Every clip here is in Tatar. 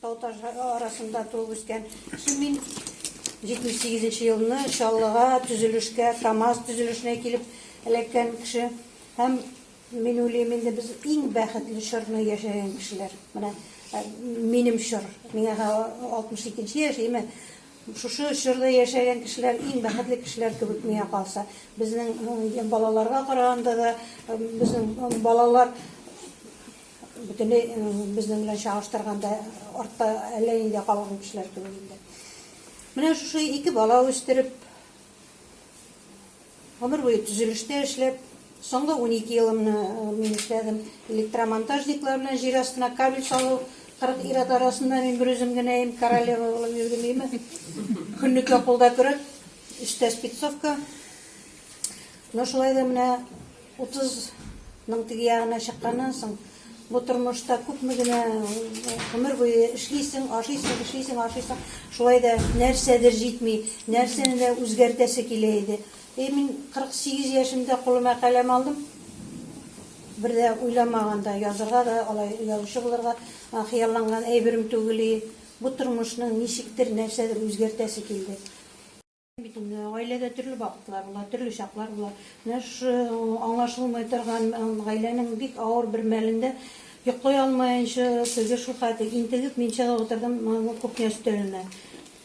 Тау ташлары арасында туып үскән ким мин. 78 нче елны Чаллыга төзелешкә, КАМАЗ төзелешенә килеп эләккән кеше. Һәм мин уйлыйм, инде без иң бәхетле чорны яшәгән кешеләр. Менә минем чор. Миңа 62 нче яшиме? Шушы чорда яшәгән кешеләр иң бәхетле кешеләр кебек миңа калса. Безнең балаларга караганда да, безнең балалар Бөтенләй безнең белән чагыштырганда артта әллә нидә калган кешеләр кебек инде. Менә шушы ике бала үстереп, гомер буе төзелештә эшләп, соңгы 12 елымны мин эшләдем. Электромонтажниклар белән җир астына кабель салу, 40 ир-ат арасында мин бер үзем генә ем, королева булып йөрдем име. Көнлеккә кулда көрәк, өстә спецовка. Но шулай да менә Утызның теге ягына чыкканнан соң, бу тормышта күпме генә гомер буе эшлисең, ашыйсың, эшлисең, ашыйсың. Шулай да нәрсәдер җитми, нәрсәне дә үзгәртәсе килә иде. Әй, мин 48 яшемдә кулыма каләм алдым. Бер дә уйламаганда язырга да, алай язучы булырга хыялланган әйберем түгел и. Бу тормышның ничектер нәрсәдер үзгәртәсе килде. Бит инде гаиләдә төрле вакытлар була, төрле чаклар була. Менә шушы аңлашылмый торган гаиләнең бик авыр бер мәлендә йоклый алмаенча, теге шул хәтле интегеп мин чыгып утырдым кухня өстәленә.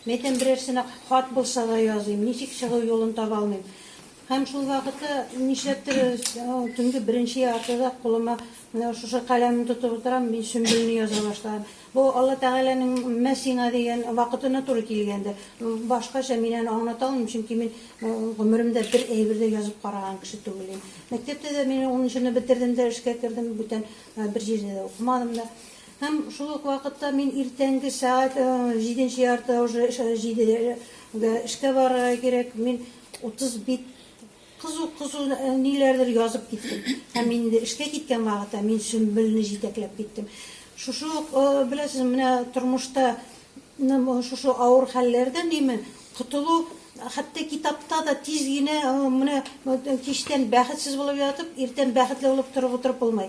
Мин әйтәм, берәрсенә хат булса да языйм, ничек чыгу юлын таба алмыйм. Һәм шул вакытта нишләптер төнге беренче яртыда кулыма менә шушы каләмне тотып утырам, мин Сөмбелне яза башладым. Бу Алла Тәгаләнең мә сиңа дигән вакытына туры килгәндер. Башкача мин аны аңлата алмыйм, чөнки мин гомеремдә бер әйбер дә язып караган кеше түгел идем. Мәктәптә дә мин унынчыны бетердем дә эшкә кердем, бүтән бер җирдә дә укымадым да. Һәм шул ук вакытта мин иртәнге сәгать җиденче яртыда уже җидегә эшкә барырга кирәк, мин утыз бит Кызу, кызу ниләрдер язып киттем. Һәм мин инде эшкә киткән вакытта мин Сөмбелне җитәкләп киттем. Шушы ук, беләсез, менә тормышта шушы авыр хәлләрдән име котылу, хәтта китапта да тиз генә менә кичтән бәхетсез булып ятып, иртән бәхетле булып торып утырып булмый.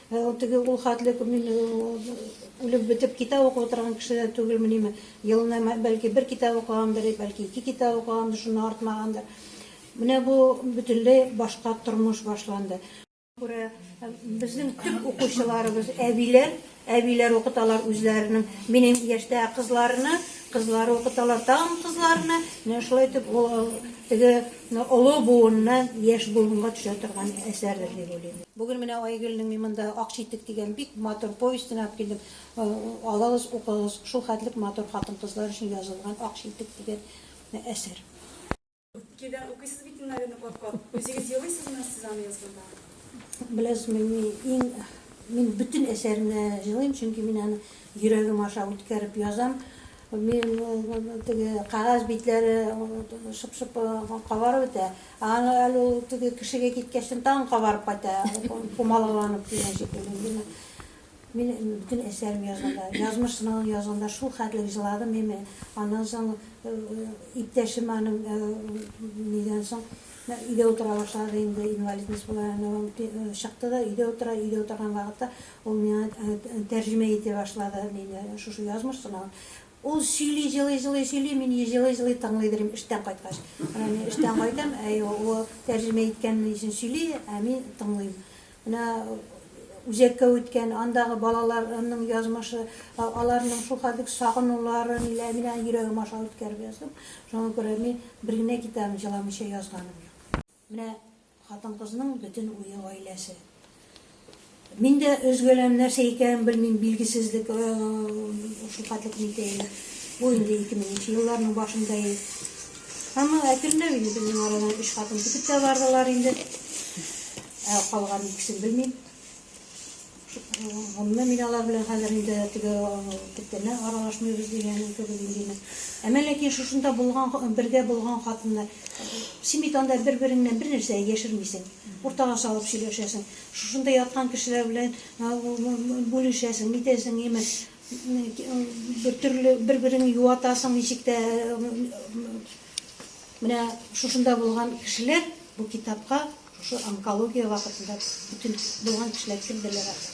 Ә ул теге ул хәтле күп мин үлеп бетеп китап укып утырган кеше дә түгелмени. Елына бәлки бер китап укыгандыр, бәлки ике китап укыгандыр, шуннан артмагандыр. Менә бу бөтенләй башка тормыш башланды. Күрә безнең төп укучыларыбыз әбиләр, әбиләр укыталар үзләренең минем яшьтә кызларны, кызлары укыталар тагын кызларны. Менә шулай итеп ул теге Менә олы буынны яшь буынга төшә торган әсәрдер дип уйлыйм. Бүген менә Айгөлнең мин монда Ак читек дигән бик матур повестен алып килдем. Алыгыз, укыгыз, шул хәтлек матур хатын-кызлар өчен язылган Ак читек дигән әсәр. Үпкәдән укыйсыз бит инде аны кат-кат. Үзегез елыйсызмы сез аны язганда? Беләсезме, мин мин бөтен әсәремне җылыйм, чөнки мин аны йөрәгем аша үткәреп язам. Мин теге кәгазь битләре шып-шып кабарып бетә. Аны әле ул теге кешегә киткәчтен тагын кабарып кайта, пумалаланып дигән шикелле. Мин мин бөтен әсәрем язганда, язмыш сынавын язганда шул хәтле җыладым мин. Аннан соң иптәшем аның нидән соң өйдә утыра башлады инде, инвалидность була, чыкты да өйдә утыра, өйдә утырган вакытта Ул миңа тәрҗемә итә башлады, мин шушы язмыш сынавын. Ул сөйли, җылый-җылый сөйли, мин җылый-җылый тыңлый йөрим эштән кайткач. Менә мин эштән кайтам, әй ул тәрҗемә иткәнне өчен сөйли, ә мин тыңлыйм. Менә үзәккә үткән, андагы балаларның язмышы, аларның шул хәлдәге сагынулары, ниләр, мин аны йөрәгем аша үткәреп яздым. Шуңа күрә мин бер генә китабын җыламыйча язганым юк. Менә хатын-кызның бөтен уе гаиләсе. Мин дә өзгәләм, нәрсә икәнен белмим, билгесезлек, шулкатлык җитәе. Бу инде 2000 елларның башында ел. Әмма әкренләп инде безнең арадан өч хатын китеп тә бардылар инде. Ә калган икесен белмим. Гомумән, мин алар белән хәзер инде теге күптәннән аралашмыйбыз дигәнем кебек инде инде. Әмма ләкин шушында булган, бергә булган хатыннар, син бит анда бер-береңнән бер нәрсә яшермисең, уртага салып сөйләшәсең. Шушында яткан кешеләр белән бүлешәсең, нитәсең, имеш, бер төрле бер-береңне юатасың, ничек тә менә шушында булган кешеләр бу китапка Шушы онкология вакытында бөтен туган кешеләр кем белер аны.